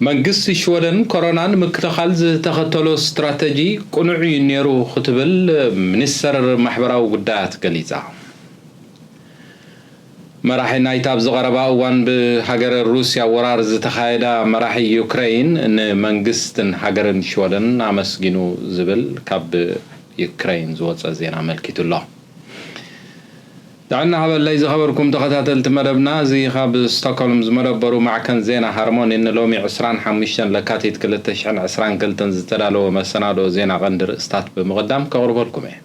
መንግስቲ ሽወደን ኮሮና ንምክልኻል ዝተኸተሎ ስትራተጂ ቅኑዕ እዩ ነይሩ ክትብል ሚኒስተር ማሕበራዊ ጉዳያት ገሊጻ። መራሒ ናይታ ኣብዚ ቀረባ እዋን ብሃገረ ሩስያ ወራር ዝተኻየዳ መራሒ ዩክረይን ንመንግስትን ሃገርን ሽወደን ኣመስጊኑ ዝብል ካብ ዩክረይን ዝወጸ ዜና ኣመልኪቱ'ሎ። ጥዕና ሃበለይ ዝኸበርኩም ተኸታተልቲ መደብና እዚ ካብ ስቶኮልም ዝመደበሩ ማዕከን ዜና ሃርሞኒ ንሎሚ ዕስራን ሓሙሽተን ለካቲት ክልተ ሽሕን ዕስራን ክልተን ዝተዳለወ መሰናድኦ ዜና ቀንዲ ርእስታት ብምቕዳም ከቕርበልኩም እየ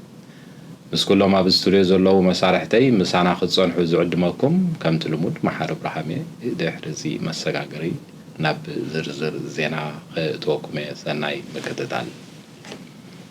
ምስ ኩሎም ኣብ ስቱድዮ ዘለዉ መሳርሕተይ ምሳና ክትጸንሑ ዝዕድመኩም ከምቲ ልሙድ መሓሪ ኣብርሃም እየ ድሕሪ እዚ መሰጋገሪ ናብ ዝርዝር ዜና ከእትወኩም እየ ሰናይ ምክትታል።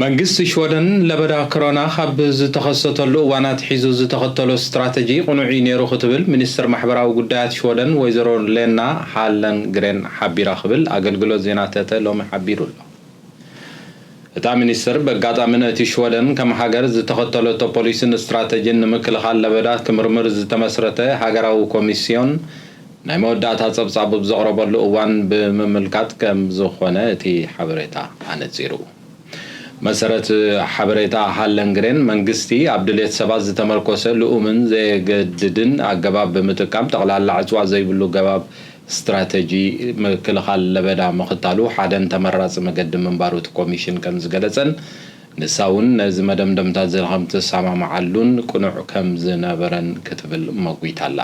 መንግስቲ ሽወደን ለበዳ ኮሮና ካብ ዝተኸሰተሉ እዋን ኣትሒዙ ዝተኸተሎ ስትራተጂ ቅኑዕ'ዩ ነይሩ ክትብል ሚኒስትር ማሕበራዊ ጉዳያት ሽወደን ወይዘሮ ሌና ሃለንግሬን ሓቢራ ክብል ኣገልግሎት ዜና ተተ ሎሚ ሓቢሩ'ሎ። እታ ሚኒስትር በጋጣሚ ነቲ ሽወደን ከም ሃገር ዝተኸተለቶ ፖሊሲን ስትራተጂን ንምክልኻል ለበዳ ክምርምር ዝተመስረተ ሃገራዊ ኮሚስዮን ናይ መወዳእታ ጸብጻቡ ብ ዘቕረበሉ እዋን ብምምልካት ከም ዝኾነ እቲ ሓበሬታ ኣነጺሩ። ብመሰረት ሓበሬታ ሃለንግሬን፣ መንግስቲ ኣብ ድሌት ሰባት ዝተመርኮሰ ልኡምን ዘየገድድን ኣገባብ ብምጥቃም ጠቕላላ ዕጽዋ ዘይብሉ ገባብ ስትራተጂ ምክልኻል ለበዳ ምኽታሉ ሓደን ተመራጺ መገዲ ምንባሩ እቲ ኮሚሽን ከም ዝገለጸን ንሳ እውን ነዚ መደምደምታ'ዚ ከምትሰማምዓሉን ቅኑዕ ከም ዝነበረን ክትብል መጒታ'ላ።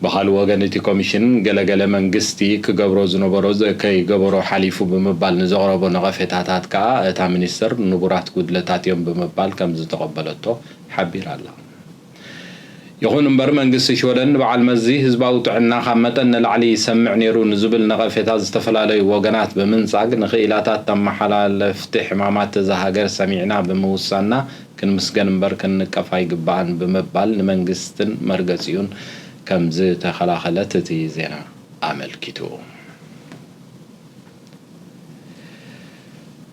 ብኻልእ ወገን እቲ ኮሚሽን ገለ ገለ መንግስቲ ክገብሮ ዝነበሮ ከይገበሮ ሓሊፉ ብምባል ንዘቕረቦ ነቐፌታታት ከኣ እታ ሚኒስትር ንቡራት ጉድለታት'ዮም ብምባል ከምዝተቐበለቶ ሓቢራ ኣላ። ይኹን እምበር መንግስቲ ሽወደን ንበዓል መዚ ህዝባዊ ጥዕና ካብ መጠን ንላዕሊ ይሰምዕ ነይሩ ንዝብል ነቐፌታ ዝተፈላለዩ ወገናት ብምንጻግ ንክኢላታት ተመሓላለፍቲ ሕማማት እዛ ሃገር ሰሚዕና ብምውሳንና ክንምስገን እምበር ክንንቀፍ ኣይግባእን ብምባል ንመንግስትን መርገጺኡን ከም ዝተኸላኸለት እቲ ዜና ኣመልኪቱ።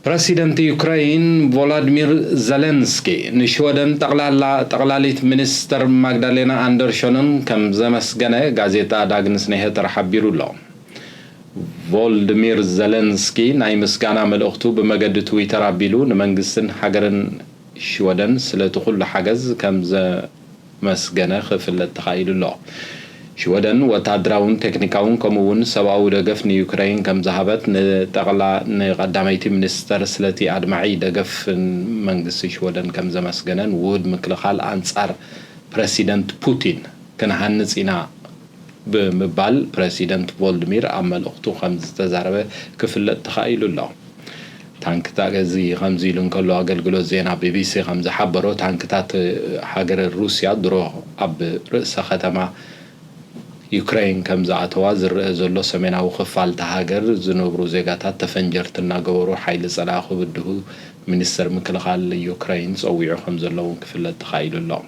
ፕረሲደንት ዩክረይን ቮላድሚር ዘለንስኪ ንሽወደን ጠቕላላ ጠቕላሊት ሚኒስተር ማግዳሌና ኣንደርሾንን ከም ዘመስገነ ጋዜጣ ዳግንስ ኒሀተር ሓቢሩ ኣሎ። ቮልድሚር ዘለንስኪ ናይ ምስጋና መልእኽቱ ብመገዲ ትዊተር ኣቢሉ ንመንግስትን ሃገርን ሽወደን ስለቲ ኩሉ ሓገዝ ከምዘመስገነ ክፍለጥ ተኻኢሉ ኣሎ። ሽወደን ወተሃደራውን ቴክኒካውን ከምኡ'ውን ሰብኣዊ ደገፍ ንዩክረይን ከምዝሃበት ንጠቕላ ንቀዳመይቲ ሚኒስተር ስለቲ ኣድማዒ ደገፍ መንግስቲ ሽወደን ከምዘመስገነን ውሁድ ምክልኻል ኣንጻር ፕረሲደንት ፑቲን ክንሃንጽ ኢና ብምባል ፕረሲደንት ቮልድሚር ኣብ መልእኽቱ ከምዝተዛረበ ክፍለጥ ተኻኢሉ ኣሎ። ታንክታት እዚ ከምዚ ኢሉ እንከሎ ኣገልግሎት ዜና ቢቢሲ ከምዝሓበሮ ታንክታት ሃገረ ሩስያ ድሮ ኣብ ርእሰ ከተማ ዩክረይን ከምዝኣተዋ ዝረኣ ዘሎ ሰሜናዊ ክፋል እታ ሃገር ዝነብሩ ዜጋታት ተፈንጀርቲ እናገበሩ ሓይሊ ጸላኢ ክብድሁ ሚኒስተር ምክልኻል ዩክረይን ጸዊዑ ከምዘሎ'ውን ክፍለጥ ተኻኢሉ ኣሎ።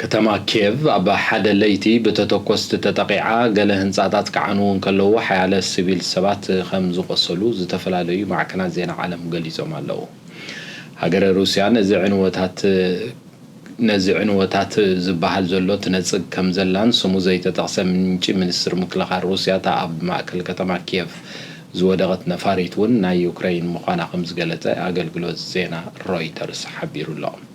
ከተማ ኪየቭ ኣብ ሓደ ለይቲ ብተተኮስቲ ተጠቒዓ፣ ገለ ህንጻታት ክዓንዉ እንከለዉ ሓያለ ስቪል ሰባት ከም ዝቖሰሉ ዝተፈላለዩ ማዕከናት ዜና ዓለም ገሊጾም ኣለዉ። ሃገረ ሩስያ ነዚ ዕንወታት ነዚ ዕንወታት ዝበሃል ዘሎ ትነጽግ ከም ዘላን ስሙ ዘይተጠቕሰ ምንጪ ሚኒስትሪ ምክልኻል ሩስያ እታ ኣብ ማእከል ከተማ ኪየቭ ዝወደቐት ነፋሪት እውን ናይ ዩክረይን ምዃና ከም ዝገለጸ ኣገልግሎት ዜና ሮይተርስ ሓቢሩ ኣሎ።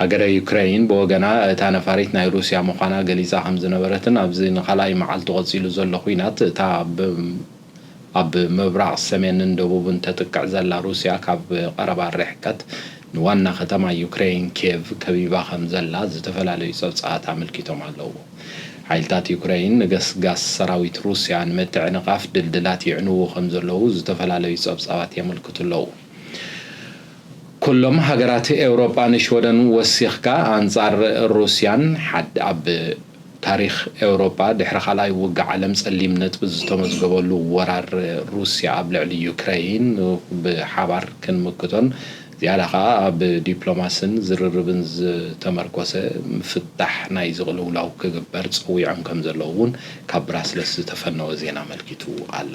ሃገረ ዩክረይን ብወገና፣ እታ ነፋሪት ናይ ሩስያ ምዃና ገሊጻ ከም ዝነበረትን ኣብዚ ንኻልኣይ መዓልቱ ቀጺሉ ዘሎ ኲናት እታ ኣብ ምብራቕ፣ ሰሜንን ደቡብን ተጥቅዕ ዘላ ሩስያ ካብ ቀረባ ርሕቀት ንዋና ከተማ ዩክረይን ኬቭ ከቢባ ከም ዘላ ዝተፈላለዩ ጸብጻባት ኣመልኪቶም ኣለዉ። ሓይልታት ዩክረይን ንገስጋስ ሰራዊት ሩስያ ንምትዕንቓፍ ድልድላት የዕንዉ ከም ዘለዉ ዝተፈላለዩ ጸብጻባት የመልክቱ ኣለዉ። ኩሎም ሃገራት ኤውሮጳ ንሽወደን ወሲኽካ ኣንጻር ሩስያን ሓድ ኣብ ታሪኽ ኤውሮጳ ድሕሪ ካልኣይ ውግእ ዓለም ጸሊም ነጥቢ ዝተመዝገበሉ ወራር ሩስያ ኣብ ልዕሊ ዩክረይን ብሓባር ክንምክቶን ዝያዳ ከኣ ኣብ ዲፕሎማስን ዝርርብን ዝተመርኮሰ ምፍታሕ ናይዚ ቅልውላው ክግበር ጸዊዖም ከምዘለዉ እውን ካብ ብራስለስ ዝተፈነወ ዜና ኣመልኪቱ ኣሎ።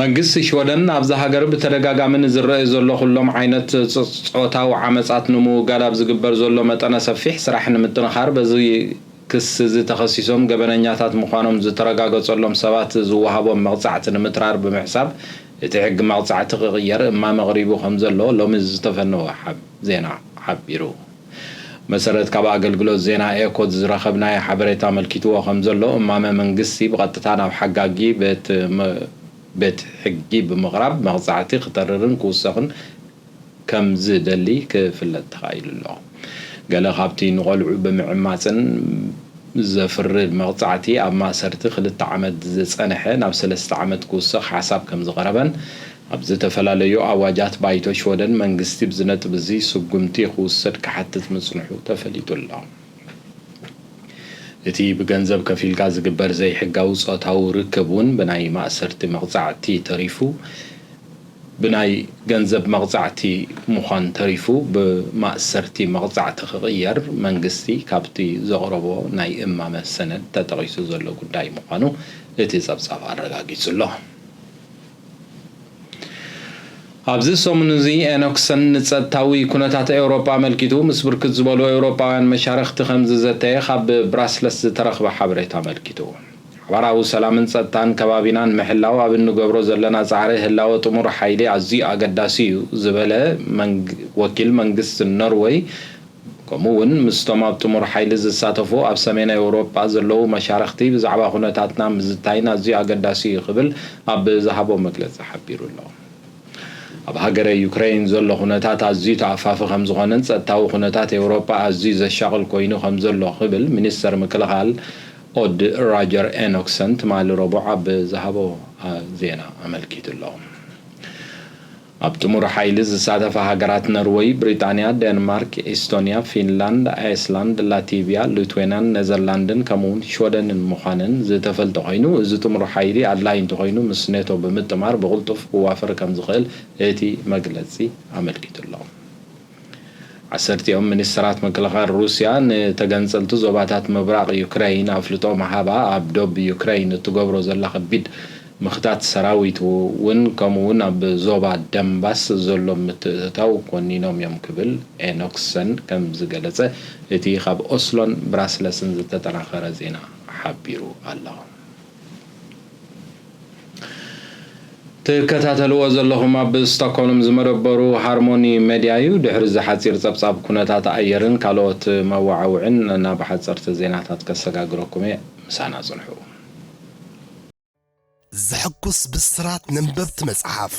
መንግስቲ ሽወደን ኣብዛ ሃገር ብተደጋጋሚ ንዝረኣዩ ዘሎ ኩሎም ዓይነት ጾታዊ ዓመጻት ንምውጋድ ኣብ ዝግበር ዘሎ መጠነ ሰፊሕ ስራሕ ንምጥንኻር በዚ ክሲ'ዚ ተኸሲሶም ገበነኛታት ምዃኖም ዝተረጋገጸሎም ሰባት ዝወሃቦም መቕጻዕቲ ንምትራር ብምሕሳብ እቲ ሕጊ መቕጻዕቲ ክቕየር እማመ ኣቕሪቡ ከምዘሎ ሎሚ ዝተፈነወ ዜና ሓቢሩ። መሰረት ካብ ኣገልግሎት ዜና ኤኮት ዝረኸብናዮ ሓበሬታ ኣመልኪትዎ ከምዘሎ፣ እማመ መንግስቲ ብቐጥታ ናብ ሓጋጊ ቤት ሕጊ ብምቕራብ መቕጻዕቲ ክተርርን ክውሰኽን ከምዝደሊ ክፍለጥ ተኻኢሉ ኣሎ። ገለ ካብቲ ንቖልዑ ብምዕማጽን ዘፍርድ መቕጻዕቲ ኣብ ማእሰርቲ ክልተ ዓመት ዝጸንሐ ናብ ሰለስተ ዓመት ክውሰኽ ሓሳብ ከምዝቐረበን ኣብ ዝተፈላለዩ ኣዋጃት ባይቶ ሽወደን መንግስቲ ብዚ ነጥቢ እዚ ስጉምቲ ክውሰድ ክሓትት ምጽንሑ ተፈሊጡ ኣሎ። እቲ ብገንዘብ ከፊልካ ዝግበር ዘይሕጋዊ ጾታዊ ርክብ እውን ብናይ ማእሰርቲ መቕጻዕቲ ተሪፉ ብናይ ገንዘብ መቕጻዕቲ ምዃን ተሪፉ ብማእሰርቲ መቕጻዕቲ ክቕየር መንግስቲ ካብቲ ዘቕረቦ ናይ እማመ ሰነድ ተጠቒሱ ዘሎ ጉዳይ ምዃኑ እቲ ጸብጻብ ኣረጋጊጹ ኣሎ። ኣብዚ ሰሙን'ዚ ኤኖክሰን ንጸጥታዊ ኩነታት ኤውሮጳ ኣመልኪቱ ምስ ብርክት ዝበሉ ኤውሮጳውያን መሻርኽቲ ከምዝዘተየ ካብ ብራስለስ ዝተረኽበ ሓበሬታ ኣመልኪቱ። ሓባራዊ ሰላምን ጸጥታን ከባቢና ንምሕላው ኣብ እንገብሮ ዘለና ጻዕሪ ህላወ ጥሙር ሓይሊ ኣዝዩ ኣገዳሲ'ዩ ዝበለ ወኪል መንግስቲ ኖርወይ፣ ከምኡ እውን ምስቶም ኣብ ጥሙር ሓይሊ ዝሳተፉ ኣብ ሰሜን ኣውሮጳ ዘለዉ መሻርኽቲ ብዛዕባ ኩነታትና ምዝታይን ኣዝዩ ኣገዳሲ እዩ ክብል ኣብ ዝሃቦ መግለጺ ሓቢሩ ኣሎ። ኣብ ሃገረ ዩክረይን ዘሎ ኩነታት ኣዝዩ ተኣፋፊ ከምዝኾነን ጸጥታዊ ኩነታት ኤውሮጳ ኣዝዩ ዘሻቕል ኮይኑ ከምዘሎ ክብል ሚኒስተር ምክልኻል ኦድ ራጀር ኤኖክሰን ትማሊ ረቡዕ ኣብ ዝሃቦ ዜና ኣመልኪቱ ኣሎ። ኣብ ጥሙር ሓይሊ ዝሳተፋ ሃገራት ነርወይ፣ ብሪጣንያ፣ ደንማርክ፣ ኤስቶንያ፣ ፊንላንድ፣ ኣይስላንድ፣ ላቲቭያ፣ ሉትዌናን ነዘርላንድን ከምኡ'ውን ሽወደንን ምዃነን ዝተፈልጠ ኮይኑ፣ እዚ ጥሙር ሓይሊ ኣድላዪ እንተኾይኑ ምስ ኔቶ ብምጥማር ብቕልጡፍ ክዋፈር ከምዝኽእል እቲ መግለጺ ኣመልኪቱ'ሎ። ዓሰርቲኦም ሚኒስተራት ምክልኻል ሩስያ ንተገንጸልቲ ዞባታት ምብራቕ ዩክረይን ኣፍልጦ ምሃባ ኣብ ዶብ ዩክረይን እትገብሮ ዘላ ከቢድ ምኽታት ሰራዊት'ውን ከምኡ'ውን ኣብ ዞባ ደንባስ ዘሎ ምትእትታው ኮኒኖም'ዮም ክብል ኤኖክሰን ከም ዝገለጸ እቲ ካብ ኦስሎን ብራስለስን ዝተጠናኸረ ዜና ሓቢሩ ኣሎ። ትከታተልዎ ዘለኹም ኣብ ስቶኮልም ዝመደበሩ ሃርሞኒ መዲያ እዩ። ድሕሪ እዚ ሓጺር ጸብጻብ ኩነታት ኣየርን ካልኦት መወዓውዒን ናብ ሓጸርቲ ዜናታት ከሰጋግረኩም እየ። ምሳና ጽንሑ። ዘሕጉስ ብስራት ነንበብቲ መጽሓፍ!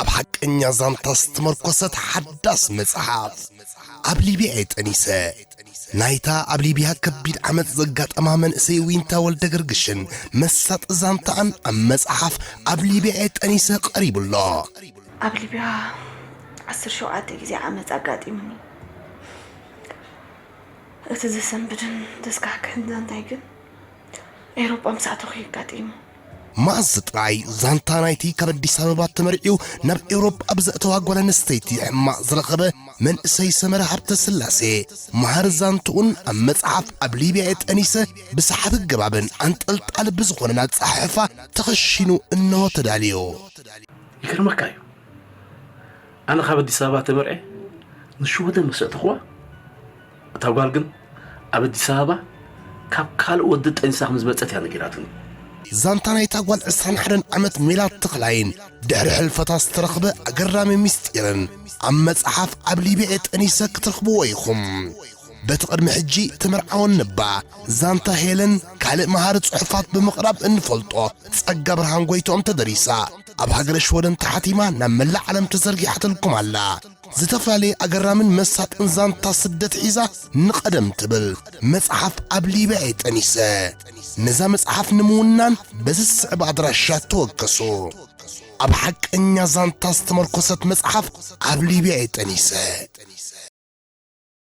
ኣብ ሓቀኛ ዛንታ ዝተመርኮሰት ሓዳስ መጽሓፍ ኣብ ሊብያ እየ ጠኒሰ ናይታ ኣብ ሊብያ ከቢድ ዓመፅ ዘጋጠማ መንእሰይ ዊንታ ወልደ ገርግሽን መሳጢ ዛንታኣን ኣብ መጽሓፍ ኣብ ሊብያ እየ ጠኒሰ ቀሪቡ ኣሎ ኣብ ሊብያ ዓስር ሸውዓተ ግዜ ዓመፅ ኣጋጢሙኒ እቲ ዘሰንብድን ዘስካሕክሕን ዛንታይ ግን ኤሮጳ ምስ ኣተኹ የጋጢሙ መኣዝ ጥራይ ዛንታ ናይቲ ካብ ኣዲስ ኣበባ ተመርዕዩ ናብ ኤውሮጳ ኣብ ዘእተዋ ጓል ኣንስተይቲ ሕማቕ ዝረኸበ መንእሰይ ሰመረ ሃብተስላሴ መሃሪ ዛንትኡን ኣብ መጽሓፍ ኣብ ሊብያ'የ ጠኒሰ ብሰሓቢ ኣገባብን ኣንጠልጣሊ ብዝኾነን ኣጸሓሕፋ ተኸሺኑ እነሆ ተዳልዩ። ይገርመካ እዩ ኣነ ካብ ኣዲስ ኣበባ ተመርዕየ ንሽወደን ምስ ኣእተኹዋ፣ እታ ጓል ግን ኣብ ኣዲስ ኣበባ ካብ ካልእ ወዲ ጠኒሳ ከም ዝመጸት እያ ነጊራትኒ። ዛንታ ናይታ ጓል ዕስራን ሓደን ዓመት ሜላት ተኽላይን ድሕሪ ሕልፈታ ዝተረኽበ ኣገራሚ ምስጢርን ኣብ መጽሓፍ ኣብ ሊብያ እየ ጠኒሰ ክትረኽብዎ ኢኹም። በቲ ቅድሚ ሕጂ ተመርዓወን ንባ ዛንታ ሄለን ካልእ መሃሪ ጽሑፋት ብምቕራብ እንፈልጦ ጸጋብርሃን ጎይትኦም ተደሪሳ ኣብ ሃገረ ሽወደን ተሓቲማ ናብ መላእ ዓለም ተዘርጊሓትልኩም ኣላ። ዝተፈላለየ ኣገራምን መሳጥን ዛንታ ስደት ሒዛ ንቐደም ትብል መጽሓፍ ኣብ ሊብያ እየ ጠኒሰ። ነዛ መጽሓፍ ንምውናን በዚ ዝስዕብ ኣድራሻ ተወከሱ። ኣብ ሓቀኛ ዛንታ ዝተመርኮሰት መጽሓፍ ኣብ ሊብያ እየ ጠኒሰ።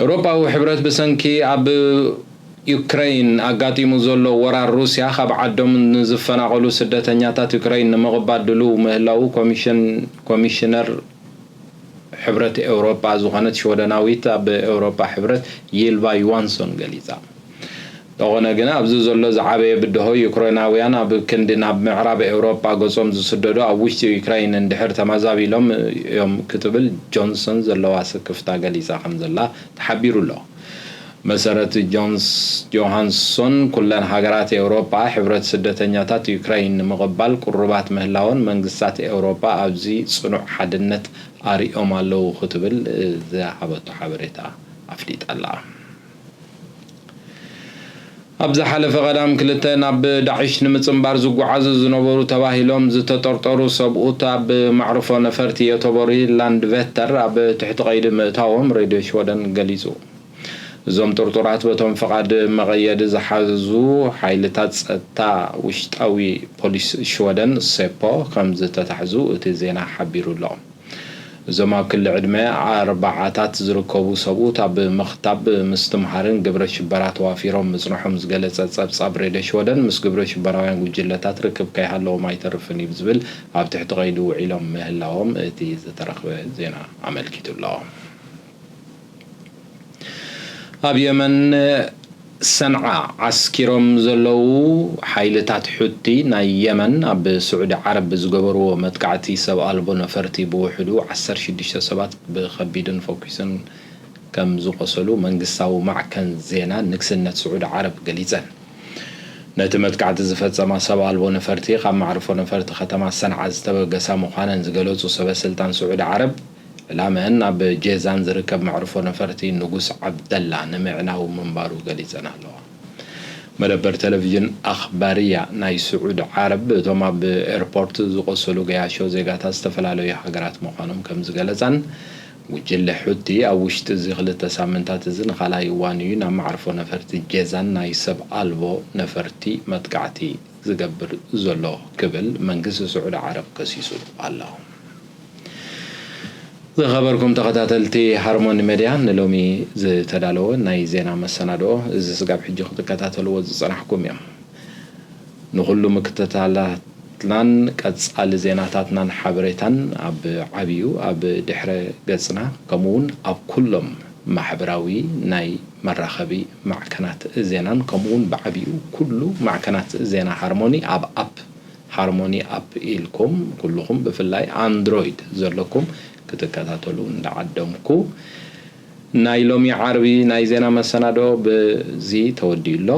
ኤውሮጳዊ ሕብረት ብሰንኪ ኣብ ዩክረይን ኣጋጢሙ ዘሎ ወራር ሩስያ ካብ ዓዶም ንዝፈናቐሉ ስደተኛታት ዩክረይን ንምቕባል ድሉው ምህላዉ ኮሚሽነር ሕብረት ኤውሮጳ ዝኾነት ሽወደናዊት ኣብ ኤውሮጳ ሕብረት ይልቫ ዩዋንሶን ገሊጻ። እንተኾነ ግና ኣብዚ ዘሎ ዝዓበየ ብድሆ ዩክሬናውያን ኣብ ክንዲ ናብ ምዕራብ ኤውሮጳ ገጾም ዝስደዱ ኣብ ውሽጢ ዩክረይን እንድሕር ተመዛቢሎም እዮም ክትብል ጆንሰን ዘለዋ ስክፍታ ገሊጻ ከምዘላ ተሓቢሩ ኣሎ። ብመሰረት ጆንስ ጆሃንሶን ኩለን ሃገራት ኤውሮጳ ሕብረት ስደተኛታት ዩክረይን ንምቕባል ቅሩባት ምህላወን መንግስታት ኤውሮጳ ኣብዚ ጽኑዕ ሓድነት ኣርእዮም ኣለዉ ክትብል ዝሃበቶ ሓበሬታ ኣፍሊጣ ኣላ። ኣብ ዝሓለፈ ቀዳም ክልተ ናብ ዳዒሽ ንምጽንባር ዝጓዓዙ ዝነበሩ ተባሂሎም ዝተጠርጠሩ ሰብኡት ኣብ ማዕርፎ ነፈርቲ ዮተቦሪ ላንድቨተር ኣብ ትሕቲ ቀይዲ ምእታዎም ሬድዮ ሽወደን ገሊጹ። እዞም ጥርጡራት በቶም ፍቓድ መቐየዲ ዝሓዙ ሓይልታት ጸጥታ ውሽጣዊ ፖሊስ ሽወደን፣ ሴፖ፣ ከምዝተታሕዙ እቲ ዜና ሓቢሩ'ሎ። እዞም ኣብ ክሊ ዕድመ ኣርባዓታት ዝርከቡ ሰብኡት ኣብ ምኽታብ፣ ምስትምሃርን ግብረ ሽበራ ተዋፊሮም ምጽንሖም ዝገለጸ ጸብጻብ ሬድዮ ሽወደን ምስ ግብረ ሽበራውያን ጉጅለታት ርክብ ከይሃለዎም ኣይተርፍን እዩ ብዝብል ኣብ ትሕቲ ቀይዲ ውዒሎም ምህላዎም እቲ ዝተረኽበ ዜና ኣመልኪቱ ኣሎ። ኣብ የመን ሰንዓ ዓስኪሮም ዘለዉ ሓይልታት ሑቲ ናይ የመን ኣብ ስዑዲ ዓረብ ብዝገበርዎ መጥቃዕቲ ሰብ ኣልቦ ነፈርቲ ብውሕዱ ዓሰርተ ሽዱሽተ ሰባት ብኸቢድን ፎኪስን ከምዝቖሰሉ መንግስታዊ ማዕከን ዜና ንግስነት ስዑዲ ዓረብ ገሊጸን። ነቲ መጥቃዕቲ ዝፈጸማ ሰብ ኣልቦ ነፈርቲ ካብ መዕርፎ ነፈርቲ ከተማ ሰንዓ ዝተበገሳ ምዃነን ዝገለጹ ሰበስልጣን ስዑዲ ዓረብ፣ ዕላመኣን ኣብ ጄዛን ዝርከብ መዕርፎ ነፈርቲ ንጉስ ዓብደላ ንምዕናው ምንባሩ ገሊጸን ኣለዋ። መደበር ተለቪዥን ኣኽባርያ ናይ ስዑዲ ዓረብ እቶም ኣብ ኤርፖርት ዝቖሰሉ ገያሾ ዜጋታት ዝተፈላለዩ ሃገራት ምዃኖም ከምዝገለጻን ጉጅለ ሑቲ ኣብ ውሽጢ እዚ ክልተ ሳምንታት እዚ ንኻልኣይ እዋን እዩ ናብ መዕርፎ ነፈርቲ ጄዛን ናይ ሰብ ኣልቦ ነፈርቲ መጥቃዕቲ ዝገብር ዘሎ ክብል መንግስቲ ስዑዲ ዓረብ ከሲሱ ኣሎ። ዝኸበርኩም ተኸታተልቲ ሃርሞኒ መድያ ንሎሚ ዝተዳለወ ናይ ዜና መሰናድኦ እዚ ስጋብ ሕጂ ክትከታተልዎ ዝጸናሕኩም እዮም። ንኹሉ ምክትታላትናን ቀጻሊ ዜናታትናን ሓበሬታን ኣብ ዓብዩ ኣብ ድሕረ ገጽና ከምኡውን ኣብ ኩሎም ማሕበራዊ ናይ መራኸቢ ማዕከናት ዜናን ከምኡውን ብዓብዩ ኩሉ ማዕከናት ዜና ሃርሞኒ ኣብ ኣፕ ሃርሞኒ ኣፕ ኢልኩም ኩሉኹም ብፍላይ ኣንድሮይድ ዘለኩም ክትከታተሉ እንዳዓደምኩ ናይ ሎሚ ዓርቢ ናይ ዜና መሰናድኦ ብዚ ተወዲኡ ኣሎ።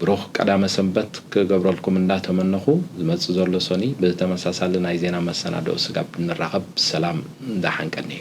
ብሩኽ ቀዳመ ሰንበት ክገብረልኩም እንዳተመነኹ ዝመጽእ ዘሎ ሰኑይ ብተመሳሳሊ ናይ ዜና መሰናድኦ ስጋብ ንራኸብ ሰላም ዳሓን ቀንዩ።